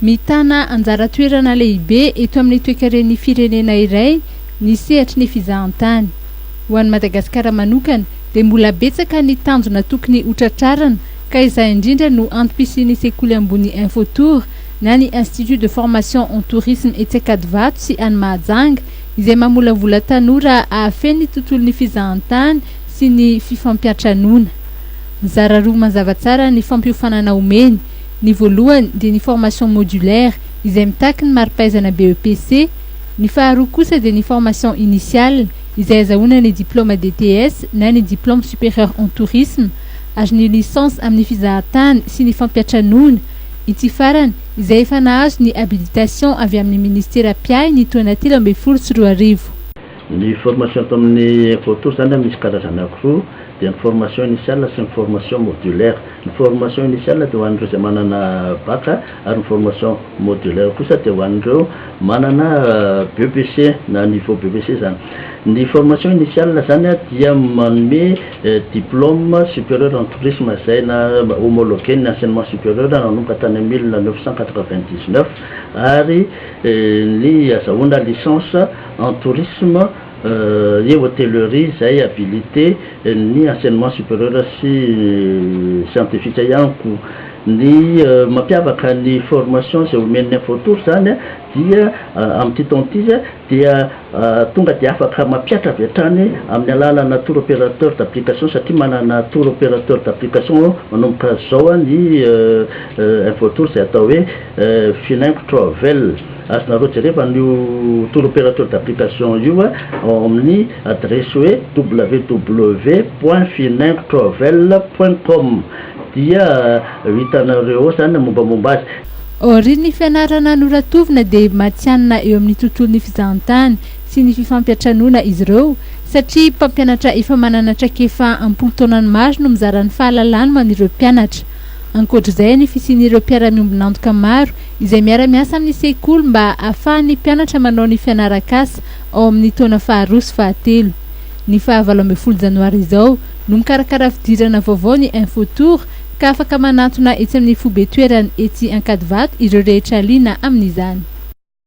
Mitana anjara toerana lehibe eto amin'ny toekaren'ny firenena iray ny sehatry ny fizahantany. Ho an'i Madagasikara manokana dia mbola betsaka ny tanjona tokony ho tratrarina ka izay indrindra no antom-pisian'ny sekoly ambony Infotour na ny Institut de formation en tourisme etsy Ankadivato sy any Mahajanga izay mamolavola tanora hahafeno ny tontolon'ny fizahantany sy ny fifampiantranoana. Mizara roa mazava tsara ny fampiofanana omeny. Ny voalohany dia ny formation modulaire izay mitaky ny mari-pahaizana BEPC, ny faharoa kosa dia ny formation initiale izay azahoana ny diplôme DTS na ny diplôme supérieur en tourisme ary ny licence amin'ny fizahantany sy ny fampiatranoana, ity farany izay efa nahazo ny habilitation avy amin'ny ministera mpiahy ny taona telo ambin'ny folo sy roa arivo. Ny formation ato amin'ny Ecotour izany dia misy karazany ankiroa, dia ny formation initiale sy ny formation modulaire. Ny formation initiale dia ho an'ireo izay manana Bac, ary ny formation modulaire kosa dia ho an'ireo manana BEPC na niveau BEPC izany. Ny formation initiale izany dia manome diplôme supérieur en tourisme izay na homologuer-n'ny enseignement supérieur nanomboka tany amin'ny mille neuf cent quatre-vingt-dix-neuf ary ny azahoana licence, en tourisme et hotellerie izay habilite ny enseignement superieur sy scientifique ihany koa. Ny mampiavaka ny formation izay omen'ny info tour izany dia amin'ity taona ity dia tonga dia afaka mampiatra avy hatrany amin'ny alalana tour opérateur d'application satria manana tour opérateur d'application manomboka izao ny info tour izay atao hoe Finaingo Travel. Azonareo jereva an'io tour opérateur d'application io ao amin'ny adiresy hoe www point finin travel point com dia ho hitanareo ao izany ny mombamomba azy. Aorian'ny fianarana noratovina dia matihanina eo amin'ny tontolon'ny fizahantany sy ny fifampiantranoana izy ireo satria mpampianatra efa manana traikefa am-polon-taonany maro no mizara ny fahalalany ho an'ireo mpianatra. Ankoatr'izay ny fisian'ireo mpiara-miombon'antoka maro izay miara-miasa amin'ny sekoly mba hahafahan'ny mpianatra manao ny fianaran-kasa ao amin'ny taona faharoa sy fahatelo. Ny faha valo ambin'ny folo janoary izao no mikarakara fidirana vaovao ny Info Tour ka afaka manantona etsy amin'ny foibe toerany etsy Ankadivato ireo rehetra liana amin'izany.